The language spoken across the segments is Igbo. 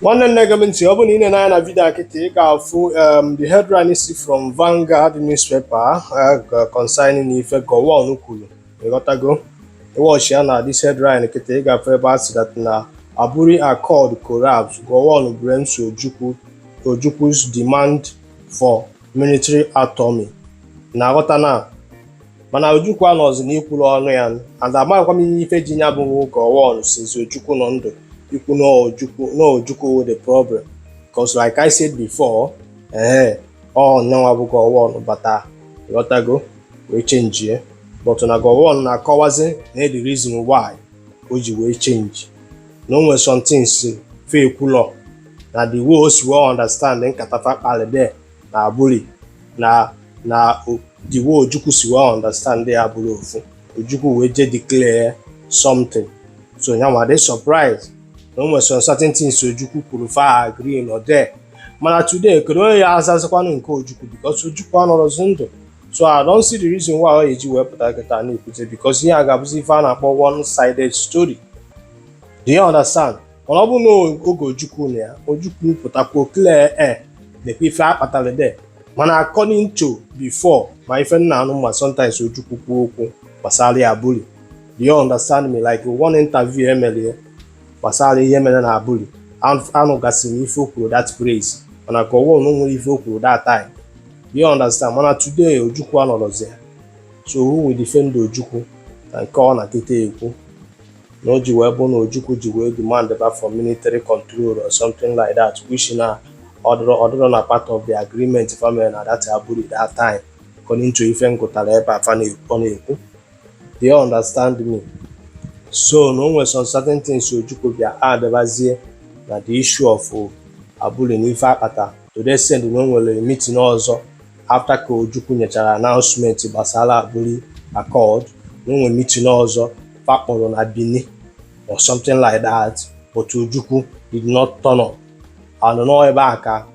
nwanne na-ege m ntị ọ bụrụ na i nee anya na vidio a kịta ị ga-afụ um, the headline si from Vanguard newspaper uh, concerning ife Gowon kwuru ị ghọtago ị watch ya na this headline kịta ị ga-afụ ebe a sị that na Aburi Accord collapse Gowon blames Ojukwu's demand for military autonomy na-aghọta na mana Ojukwu anọzi n'ikwuru ọnụ ya and amaghịkwa m ife ji ya bụ Gowon since Ojukwu nọ ndụ ikwu na Ojukwu bụ the problem because like I said before ee ọ nyanwa bụ Gowon bata ị ghọtago wee chenjie but na Gowon na-akọwazi na the reason why o ji wee chenji na o nwere some things fa ekwulọ na the way o si wee understand nkata fa kpali there na Aburi na na o- the way ojukwu si wee understand ya abụrọ ofu ojukwu wee je declare something so ya nwa dị surprise na o nwere some certain things ojukwu kwuru fa agreelọ there mana today kedu onye ya-azazikwanụ nke ojukwu because ojukwu anọrọzi ndụ so I don't see the reason why ọ ga-eji wee pụta kịta na-ekwute because ihe a ga-abụzi ife a na-akpọ one sided story do you understand mana ọ bụrụ na oge ojukwu nọ ya ojukwu pụtakwuo clear air na-ekwu ife a kpatara there mana according to before ma ife m na-anụ ma sometimes ojukwu kwuo okwu gbasara Aburi do you understand me like one interview e mere ya gbasara ihe mere na Aburi anụgasịrị m ife o kwuru that place mana Gowon nwere ife o kwuru that time you understand mana today ojukwu anọrọzi ya so who will defend ojukwu na nke ọ nọ kịta ekwu na o ji wee bụ na ojukwu ji wee demand ba for military control or something like that which na ọ dịrọ ọ dịrọ na part of the agreement fa meli na that Aburi that time according to ife m gụtara ebe a fa na-ekwu ọ na-ekwu do you understand me so na o nwere some certain things ojukwu bịa addịbazie na the issue of Aburi na ife a kpata to the extent na o nwere meeting ọzọ after ka ojukwu nyechara announcement gbasara Aburi Accord na o nwere meeting ọzọ fa kpọrọ na Benin or something like that but ojukwu did not turn up and na ọ ebe a ka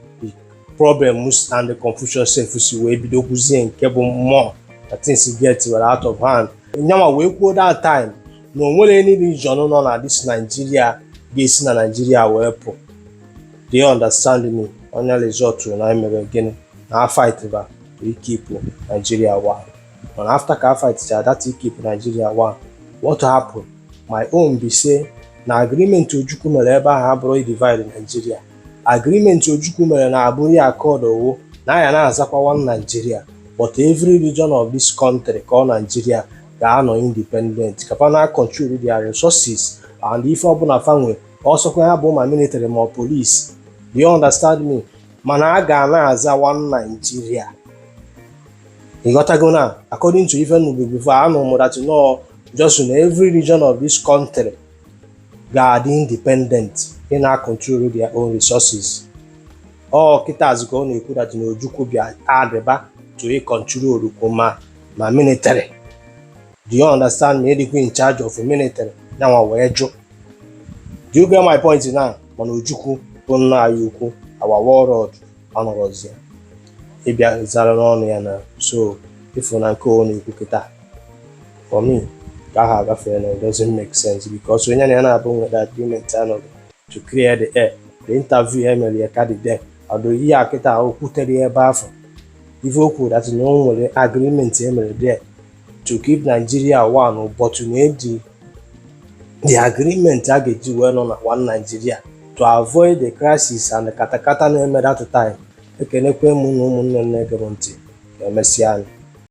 problems and the confusion sef si wee bido kwuzie nke bụ mmụọ na things get were out of hand nyanwa wee kwuo that time na o nwere any region nọ na this Nigeria ga-esi na Nigeria wee pụ do you understand me ọ nya result na e mere gịnị na a fight ba to keep Nigeria one mana after ka a fight cha that keep Nigeria one what happened my own be say na agreement Ojukwu mere ebe ahụ abụrọ divide Nigeria agreement Ojukwu mere na Aburi accord ọ wụ na a ya na-azakwa one Nigeria but every region of this country called Nigeria ga-anọ independent ka fa na-control their resources and ife ọbụla fa nwe ọ sọkwa ya bụ ma military ma police do you understand me mana a ga na-aza one Nigeria ị ghọtago na according to ife m nụbụ before anụ m that na ọ just na every region of this country ga-adị independent na-control their own resources ọ kịtazi ka ọ na-ekwu that na Ojukwu bịa addịba to ị control kwu ma ma military do you understand me ịdịkwa in charge of military ya nwa wee jụ do you get my point now mana Ojukwu bụ nna anyị ukwu our warlord ọ nọrọzi ya ịbịa zara ọnụ ya na so ị fụ na nke ọ na-ekwu kịta for me ka ahụ agafee na it doesn't make sense because onye na ya na-abụ nweta agreement anọghị to clear the air the interview e mere ya ka dị there ọ dị ya kịta o kwutere ya ebe afụ ife o kwuru that na o nwere agreement e mere there to keep Nigeria one but na eji the agreement a ga-eji wee nọ na one Nigeria to avoid the crisis and katakata na-eme that time ekenekwa m unu ụmụnne m na-ege m ntị ka emesịa nụ